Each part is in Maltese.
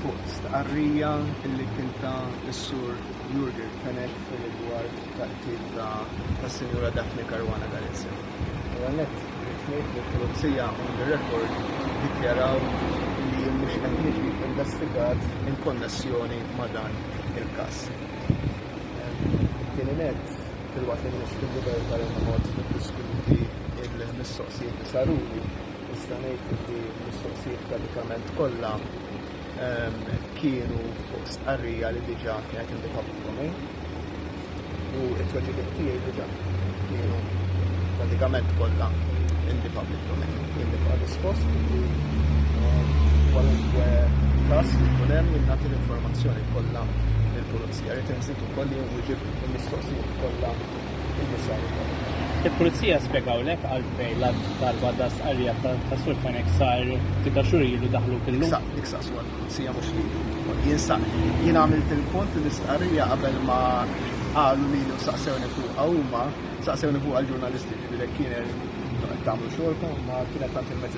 fuq stqarrija li kien ta s-Sur Jurgen Fenech fir-rigward tal-qtil tas-Sinjura Daphne Caruana Galizia. L-ewwel nett rrid ngħid li l-Pulizija on the record iddikjaraw li jien mhux qed niġi investigat in konnessjoni ma' dan il-każ. Tieni nett, filwaqt li m'iniex fil-libertà li noqgħod niddiskuti l-mistoqsijiet li saruli, Nista' ngħid li l-mistoqsijiet pratikament kollha ehm, kienu fuq stqarrija li diġà kienet indika pubbliku u t-tweġibiet tiegħi diġà kienu pratikament kollha indika pubbliku. Kien diġà rispost li ehm, kwalunkwe każ li jkun hemm nagħti l-informazzjoni kollha il-pulizija li tinżid ukoll li wieġib il-mistoqsijiet kollha Il-Pulizija spjegawlek għalfejn l-għadd darba da stqarrija ta' Sur Fenech sar ftit ta' xhur ilu daħluk illum? Issa, dik saqsuha l-Pulizija mhux lili. Jien sa, jien għamilt il-punt li l-istqarrija qabel ma qalu lili u saqsewni fuqha huma, saqsewni fuqha l-ġurnalisti, jiġifieri jekk kien qed tagħmlu xogħolkom, ma kien qed tagħti l-mezzi ta' xandir.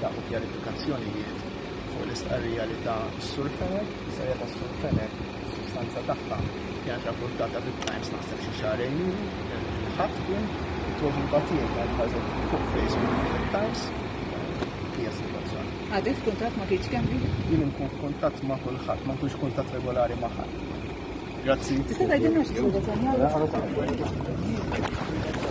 Tlaħqu kjarifikazzjonijiet fuq l-istqarrija li ta s-Sur Fenech. L-istqarrija tas-Sur Fenech fis-sustanza tagħha kienet rapportata fit-Times naħseb xi xahrejn ilu, il-Ħadd kien, it-tweġiba tiegħi kienet ħareġet fuq Facebook fit-Times. Hija s-sitwazzjoni. Għadek f'kuntatt ma' Keith Schembri? Jien inkun f'kuntatt ma' kulħadd, ma nkunx f'kuntatt regolari ma' ħadd. Grazzi. Tista' tgħidilna xi ħaġa dwar dan?